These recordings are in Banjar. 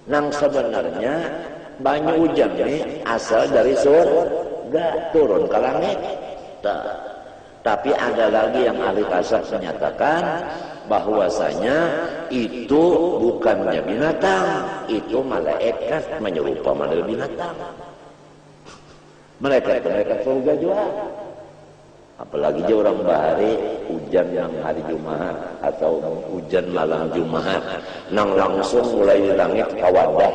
Nang sabanarnya banyu ujan ni asal dari surga turun ka langit. Ta. Tapi ada lagi yang ahli tasawf menyatakan bahwasanya itu bukannya binatang, itu malaikat manyerupa model binatang. Malaikat itu malaikat surga jua. Apalagi ja urang bahari ujan nang hari Jumahat atau ujan malam Jumahat nang langsung mulai di langit ka wadah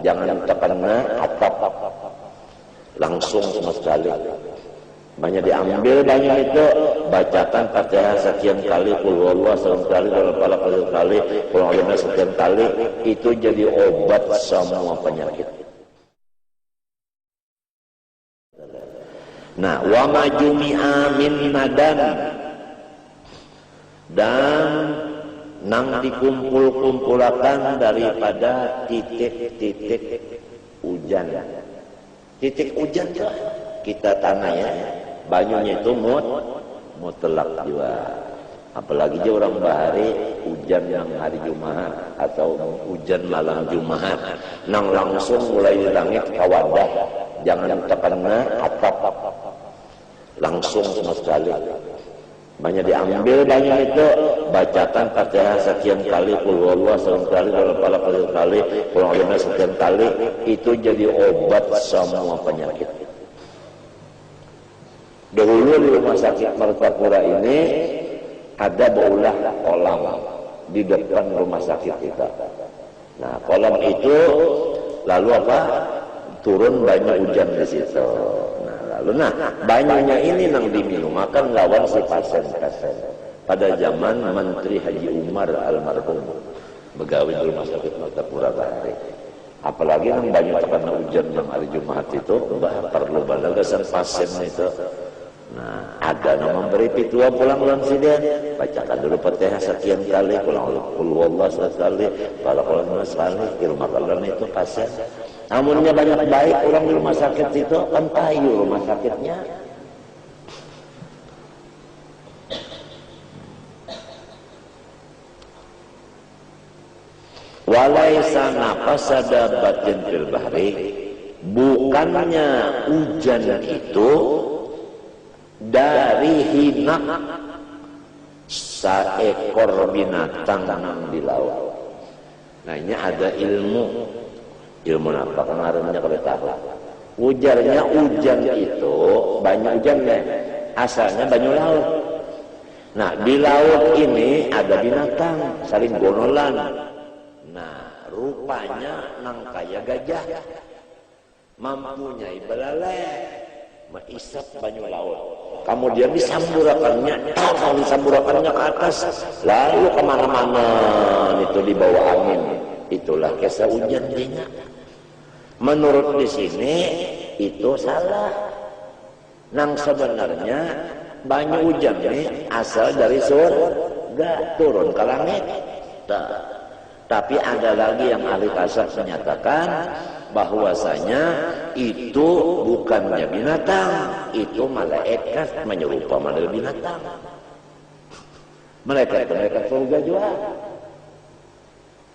jangan takena atap langsung sama sekali. Banyak diambil banyu nitu, bacakan Fatihah sakian kali, Qulhuwallah salam kali, Qulhuwal Falaq salam kali, Qul A'udzu Binass sakian kali, itu jadi obat samua panyakit. Nah, wa ma jumi'a min nadan dan nang dikumpul-kumpulakan daripada titik-titik ujan. Titik ujan tu kita tanah ya, banyunya itu mut mutlak jua. Apalagi ja urang bahari ujan nang hari Jumahat atau ujan malam Jumahat nang langsung mulai di langit ka wadah jangan takena atap langsung sama sekali. Banyak diambil banyu nitu, bacakan Fatihah sakian kali, Qulhuwallah saban kali, Qulhuwal Falaq saban kali, Qul A'udzu Binass sakian kali, itu jadi obat samua panyakit. Dahulu di Rumah Sakit Martapura ini ada baulah kolam di depan rumah sakit kita. Nah, kolam itu lalu apa turun banyu hujan di situ. Nah, lalu nah banyunya ini nang diminumakan lawan si pasien-pasien pada zaman Menteri Haji Umar almarhum begawi di Rumah Sakit Martapura bahari. Apalagi nang banyu takana ujan nang hari Jumahat itu, bah parlu banar gasan pasien nitu. Nah, ada nang mambari pitua pulang lawan sidin, bacakan dulu Fatihah sakian kali, Qulhuwallah sakali, Falaqul Nas sakali, dirumakan lawan itu pasien. Amunnya banyak baik urang di rumah sakit situ, kan payu rumah sakitnya. Walaisa nafasada batin fil bahri, bukannya ujan itu dari hinak saekor binatang nang di laut. Nah inya ada ilmu, ilmu napa kah ngarannya kada tahu. Ujarnya ujan itu, banyu ujan ne, asalnya banyu laut. Nah, di laut ini ada binatang saling gonolan. Nah, rupanya nang kaya gajah mampunyai belaleh meisap banyu laut. Kamudian disamburakannya, tahu disamburakannya ke atas, lalu ke mana-mana itu dibawa angin. Itulah kisah ujan dinya. Menurut di sini itu salah. Nang sabanarnya banyu ujan ni asal dari sur ga turun ka langit. Ta, tapi ada lagi yang ahli kasat menyatakan bahwasanya itu bukannya binatang, itu malaekat manyerupa model binatang. Malaekat tu malaekat surga jua.